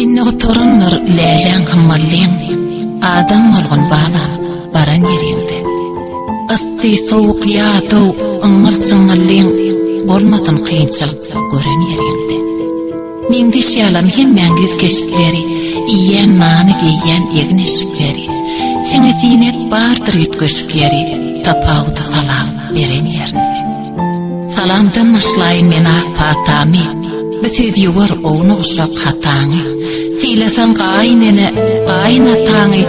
Inni oturanlar lälän hymmallyň, adam bolgun bana, baran ýeriňde. Ysty, sowuk, ýadaw, yňňyl-çyňňyllyň, bolmasyn kynçylyk gören ýeriňde. Meňzeş ýalam hemmäň ýüz keşpleri, Iýýän nany, geýýän egin-eşikleri. Siňe siňek bardyr üýtgeşikleri, Tapawudy salam beren ýerinde. Salamdan başlaýyn men ak patamy, Bu söz ýuwar owna guşak hataňy. Sylasaň gaýyn ene, gaýyn ataňy,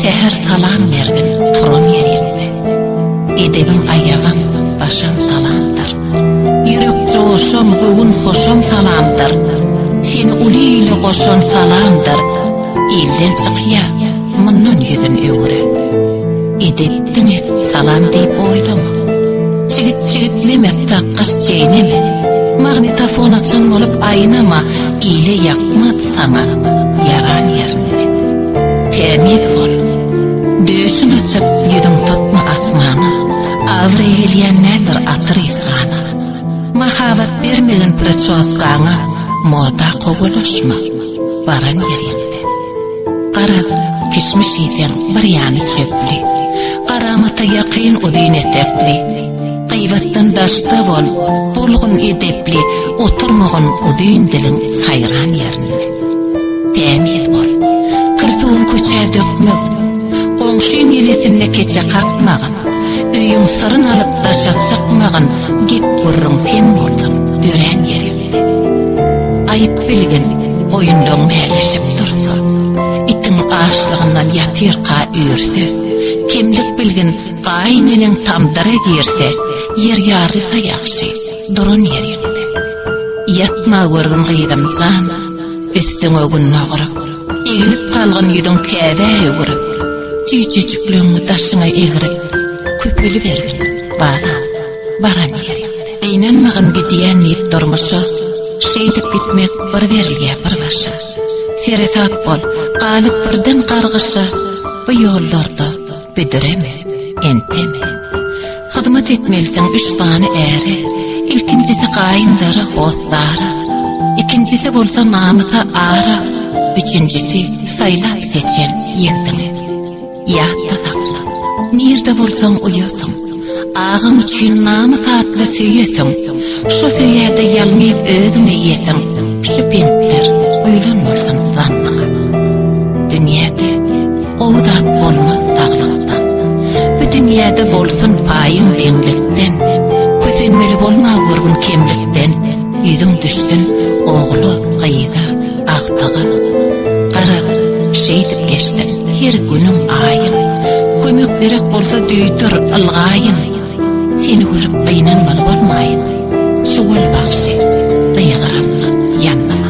Säher salam bergin turan ýeriňde. Edebiň aýagyň, başyň salamdyr. Ýürek joşan göwün hoşan salamdyr, Seni uly ile goşan salamdyr. Ilden çykýa, mundan ýüzün öwüren. Edep diňe salam diýip oýlama. Çigit çigitleme, takgaç çeýneme, Magnitofon açan bolup aýnama, Ile ýakmaz saňa ýaran ýerinde. Tämiz bol, döşün açyp ýüzün tutma asmana, Awry gelýän nädir atyr ysgana, Mahabat bermegin pricosgaňa Moda kowalaşma, baran ýeriňde. Garaz, kişmiş iýseň, bir ýany çöpli, Garamata ýakyn uzyn etekli, Gyýbatdan daşda bol, bolgun edepli, Oturmagyn uzyn diliň saýran ýerinde. Tämiz bol, kir suwuň köçä dökmegin, Goňşyň ýelesinde keçe kakmagyn, Öýüň syryn alyp daşa çykmagyn gep gürrüň sen boldun örän ýerinde. Aýyp bilgin goýunlaň mäleşip dursa, itiň açlygyndan ýatyrka üýrse, kemlik bilgin gaýyn eneň tamdyra girse, ýer ýarylsa ýagşy, duran ýeriňde. Ýatma görgün gyzym jan, Üstüňe gün nagyryp, egnip galgyn ýüzüň käbä öwrüp, Jüýjejikleňňi daşyňa egrip, köpelibergin, bala, baran ýeriňde. Gynanmagyn gidýän diýip durmuşa, şeýdip gitmek bir berilýä bir başa. Seresap bol, galyp birden gargyşa, bu ýollarda, Büdüreme, enteme. Hyzmat etmelisiň üç sany äre, ilkinjisi gaýyndara, hossara, ikinjisi bolsa namysa ara, üçünjisi saýlap-seçen ýigdiňe. Ýatda sakla, nirde bolsaň uýasyň. Agam üçin namys atly söýesiň, Şo söýerde ýalmyz özüň eýesiň, Şu bentler guýlan bolsun zannyňa. Dünýäde gowy zat bolmaz saglykdan, Bu dünýäde bolsun paýyň deňlikden, Kösenmeli bolma görgün kemlikden, Ýüzüň düşsün ogla, gyza. agtygy. Garaz, şeýdip geçsin her günüň aýyň, Kömek gerek bolsa duýdur, ylgaýyn, Seni görüp gynanmaly bolmaýyn, Şu gül bagşy, gygyranma, ýanlama.